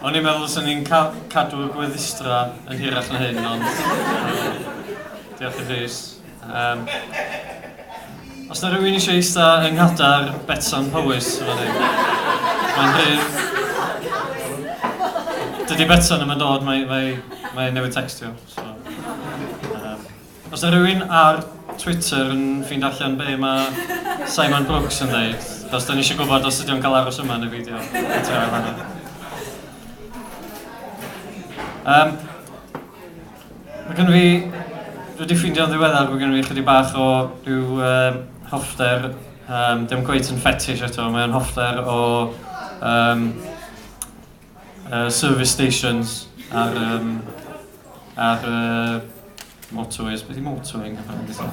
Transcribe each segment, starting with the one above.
O'n i'n meddwl swn i'n ca cadw y gweddistrau yn hirach na hyn, ond diolch i Rhys. Um, os na rhywun eisiau eista yng nghadair Betsan Powys, fan hyn, mae'n rhydd. Dydy Betsan yma'n dod, mae, mae, mae newydd textio. So. Os yw rhywun ar Twitter yn ffind allan be mae Simon Brooks yn ddeud, achos da ni eisiau gwybod os ydy o'n cael aros yma neu beidio at yr ail hanner. Um, mae gen fi, dwi wedi ffeindio'n ddiweddar, mae gen fi chydig bach o rhyw um, hoffter, um, dim gweith yn ffetish eto, mae'n hoffter o um, uh, service stations ar, um, ar uh, motorways, beth i motorway yn gyfan gyda?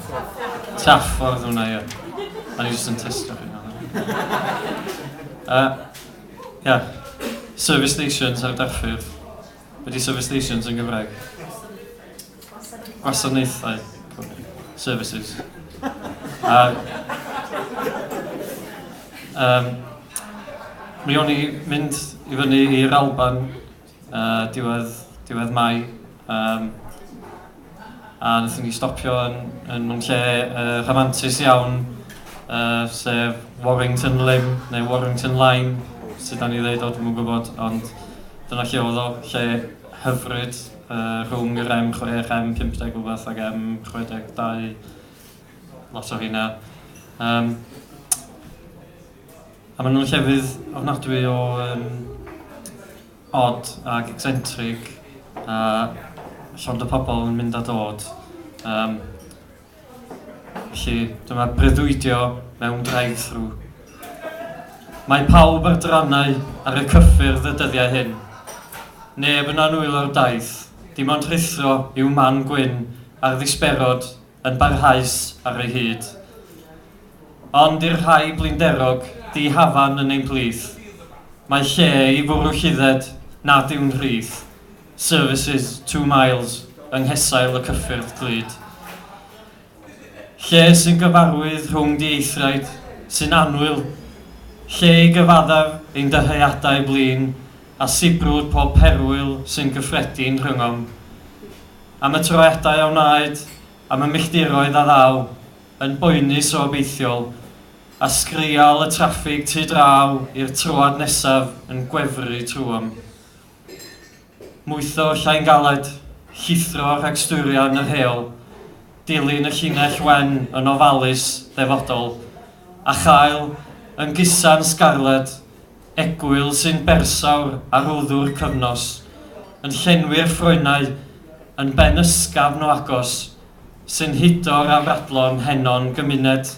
Traffordd hwnna, ie. A ni jyst yn testio chi uh, yeah. Service stations ar darffyrdd. Beth i service stations yn Gymraeg? Gwasanaethau, services. A, um, mi o'n i mynd i fyny i'r Alban uh, diwedd, diwedd Mai. Um, a wnaethon ni stopio yn, yn mewn lle uh, rhamantus iawn, uh, sef Warrington Lym, neu Warrington Line, sydd da ni ddeud o, dwi'n gwybod, ond dyna lle oedd o, lle hyfryd, Rhwng yr em chwech, em pump deg rhywbeth ac em chwe deg dau, lot o rheina. Um, a maen nhw'n llefydd ofnadwy o um, odd ac eccentric a llond o pobl yn mynd a dod. Um, Felly, dyma breuddwydio mewn drive-thru. Mae pawb ar drannau ar y cyffyrdd y dyddiau hyn. Neb yn annwylo'r daith, dim ond rhuthro i'w man gwyn a'r ddisberod yn barhaus ar ei hyd. Ond i'r rhai blinderog, di-hafan yn ein plith, mae lle i fwrw llidded nad yw'n rhydd. Services two miles yng nghesail y cyffyrdd glud. Lle sy'n gyfarwydd rhwng dieithriaid sy'n annwyl, lle i gyfaddef ein dyheadau blin a sibrwd pob perwyl sy'n gyffredin rhyngom. Am y troeadau a wnaed, am y milltiroedd a ddaw, yn boenus o obeithiol, a sgrial y traffig tu draw i'r troad nesaf yn gwefru trwom. Mwytho llai'n galed, llithro rhag stwrio yn yr heol, dilyn y llinell wen yn ofalus, defodol, a chael yn gusan sgarled, egwyl sy'n bersawr ar wddw'r cyfnos, yn llenwi'r ffroenau yn ben ysgafn o agos, sy'n hudo rafradlon henon gymuned.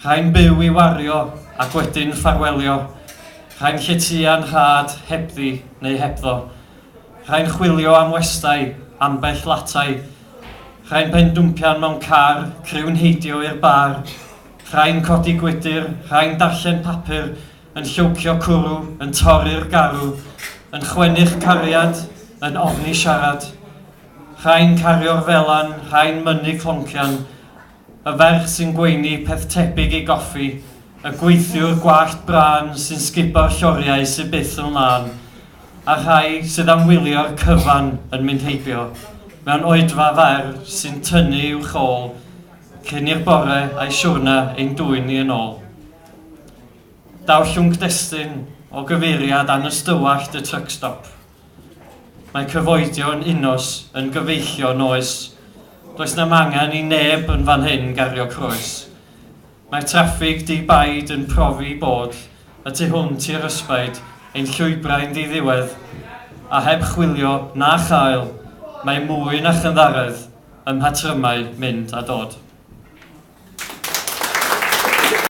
Rhai'n byw i wario ac wedyn ffarwelio, rhai'n lletya nhad hebddi neu hebddo, rhai'n chwilio am westai, ambell latai, rhai'n pendwmpian mewn car, criw'n heidio i'r bar, rhai'n codi gwydr, rhai'n darllen papur, yn llowcio cwrw, yn torri'r garw, yn chwennu'ch cariad, yn ofni siarad. Rhai'n cario'r felan, rhai'n mynnu cloncian, y ferch sy'n gweini peth tebyg i goffi, y gweithiwr gwallt brân sy'n sgubo'r lloriau sy byth yn lân, a'r rhai sydd am wylio'r cyfan yn mynd heibio mewn oedfa fer sy'n tynnu i'w chôl cyn i'r bore a'i siwrna ein dwyn ni yn ôl. Daw llwnc destun o gyfeiriad anystywallt y truckstop. Mae cyfoedio yn unos yn gyfeillion oes? Does nam angen i neb yn fan hyn gario croes. Mae'r traffig di-baid yn profi bod y tu hwnt i'r ysbaid ein llwybrau'n ddiddiwedd, a heb chwilio na chael, mae mwy na chynddaredd ym mhatrymau mynd a dod.